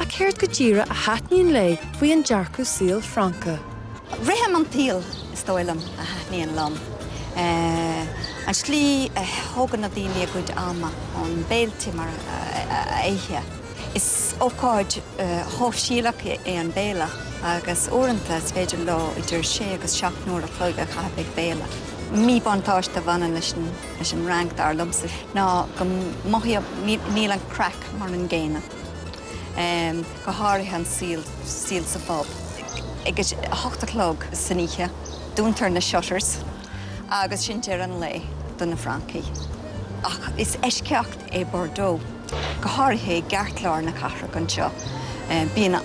Ach céard go díreadh a thaitníonn léi faoi an dearcadh saoil Francach? Rithim an tsaoil, is dóigh liom, a thaitníonn liom. An tslí a thógann na daoine a gcuid ama, na béiltí mar a ithe. Is ócáid shóisialach é an béile agus uaireanta is féidir leo idir sé agus seacht n-uair a chloig a chaitheamh ag béile. Míbhuntáiste a bhaineann leis an Fhrainc, dar liomsa, ná go mothaím níl an craic mar an gcéanna. go háirithe an saol sa phub. ag a hocht a chlog san oíche dúntar na shutters agus sin deireadh an lae do na francaigh. Ach is eisceacht é Bordeaux, go háirithe i gceartlár na cathrach anseo. Bíonn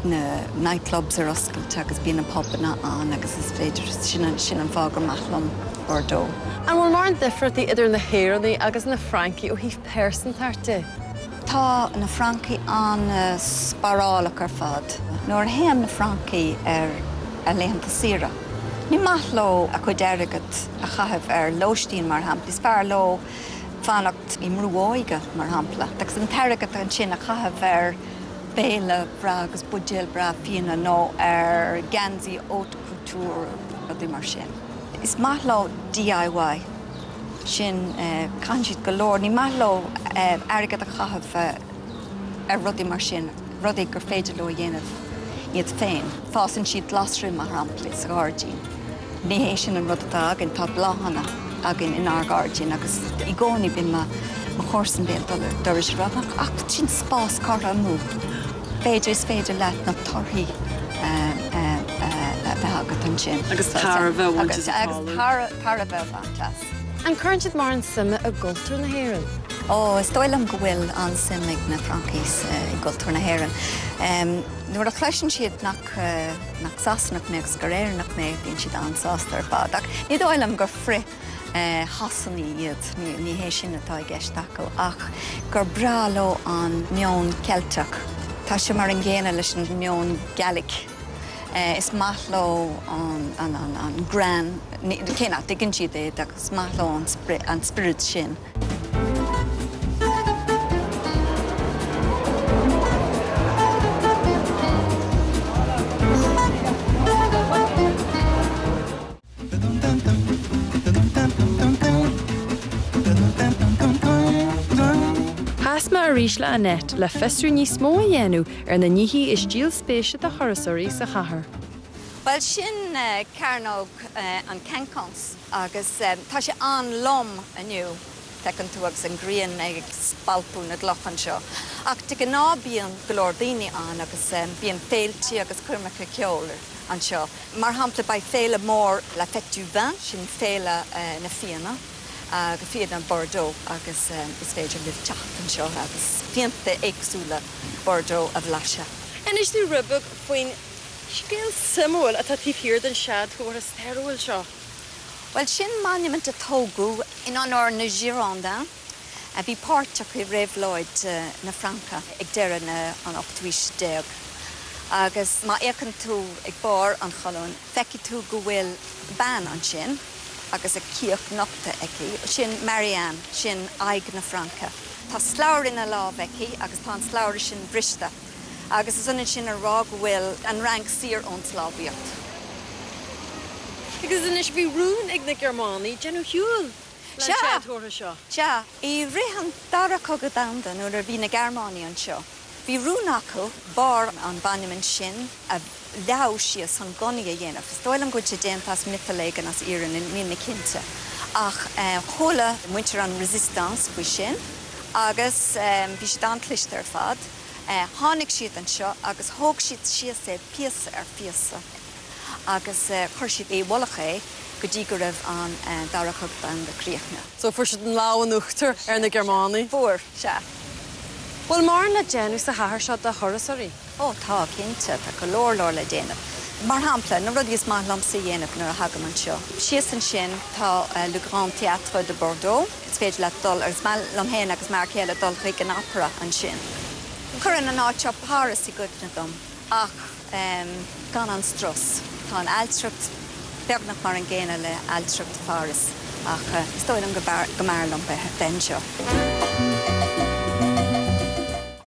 na night clubs ar oscailte agus bíonn na pubanna ann agus is féidir, sin sin an fáth gur maith liom Bordeaux. An bhfuil mórán difríochtaí idir na hÉireannaigh agus na Francaigh ó thaobh pearsantachta? Tá na francaigh an-spárálach ar fad. Nuair a théann na francaigh ar a laethanta saoire, ní maith leo a gcuid airgid a chaitheamh ar lóistín, mar shampla. Is fearr leo fanacht i mbrú óige, mar shampla, agus an t-airgead ansin a chaitheamh ar bhéile breá agus buidéal breá fíona nó ar gheansaí haute couture, rudaí mar sin. Is maith leo DIY. sin, caitheann siad go leor, ní maith leo airgead a chaitheamh ar rudaí mar sin, rudaí gur féidir leo a dhéanamh iad féin. Fásann siad glasraí, mar shampla, sa ghairdín. Ní hé sin an rud atá againn, tá bláthanna againn inár ngairdín agus i gcónaí bíonn mo chomharsan béal dorais ag rá, ach is spás curtha amú é, féidir, is féidir leat na torthaí a bheith agat ansin. Agus tairbhe a bhaint as an talamh. An gcuireann siad mórán suime i gcultúr na hÉireann? Ó, is dóigh liom go bhfuil an-suim ag na Francaigh i gcultúr na hÉireann. Nuair a chloiseann siad nach Sasanach mé agus gur Éireannach mé, bíonn siad an-sásta ar fad. Ach ní dóigh liom gur frith-Shasanaigh iad, ní hé sin atá i gceist acu, ach gur breá leo an meon Ceilteach. Tá sé mar an gcéanna leis an meon Gallach. Is maith leo an greann, cé nach dtuigeann siad é, is maith leo an spiorad sin. Chas mé arís le Annette le fiosrú níos mó a dhéanamh ar na nithí is díol spéise do thurasóirí sa chathair. Bhuel, sin Cearnóg an Quinconces agus tá sé an-lom inniu, feiceann tú agus an ghrian ag spalpadh na gcloch anseo. Ach de ghnáth bíonn go leor daoine ann agus bíonn féiltí agus coirmeacha ceoil anseo. Mar shampla, beidh féile mór La Fête du Vin, sin Féile na Fíona agus Fíona Bordeaux agus is féidir libh teacht anseo agus fíonta éagsúla Bordeaux a bhlaiseadh. Inis dom rud beag faoin scéal suimiúil atá taobh thiar den séadchomhartha stairiúil seo. Bhuel, sin monument a tógadh in onóir na Girondins. a bhí páirteach i Réabhlóid na Fraince ag deireadh na an ochtú aois déag, agus má fhéachann tú ag barr an cholúin feicfidh tú go bhfuil bean ansin agus a cíoch nochta aici, sin Marianne, sin aghaidh na Fraince. Tá slabhra ina lámh aici agus tá an slabhra sin briste, agus is ionann sin a rá go bhfuil an Fhrainc saor ón sclábhaíocht. Agus anois bhí rún ag na Gearmánaigh déanamh ar shiúl Ó sea! I rith an Dara Cogadh Domhanda, nuair a bhí na Gearmánaigh anseo, bhí rún acu barr an mhonument sin a leaghadh síos chun gunnaí a dhéanamh. Is dóigh liom go bhfuil sé déanta as miotal éigin, as iarann, níl mé cinnte. Ach chuala muintir an Résistance faoi sin agus bhí siad an-chliste ar fad. Tháinig siad anseo agus thóg siad síos é píosa ar phíosa. agus chuir siad i bhfolach é go dtí go raibh an Dara Cogadh Domhanda críochnaithe. So, fuair siad an lámh in uachtar ar na Gearmánaigh. Fuair, sea. Bhfuil mórán le déanamh sa chathair seo do thurasóirí? Ó, tá, cinnte. Tá go leor leor le déanamh. Mar shampla, na rudaí is maith liomsa a dhéanamh nuair a thagaim anseo. Síos ansin tá Le Grand Théâtre de Bordeaux. Is féidir leat dul, agus is maith liom féin agus m'fhear céile dul chuig an Opera ansin. Cuireann an áit seo Páras i gcuimhne dom. Ach. amh gan an strus. Tá an ailtireacht beagnach mar an gcéanna le ailtireacht Pháras ach is dóigh liom go mb'fhearr liom bheith anseo.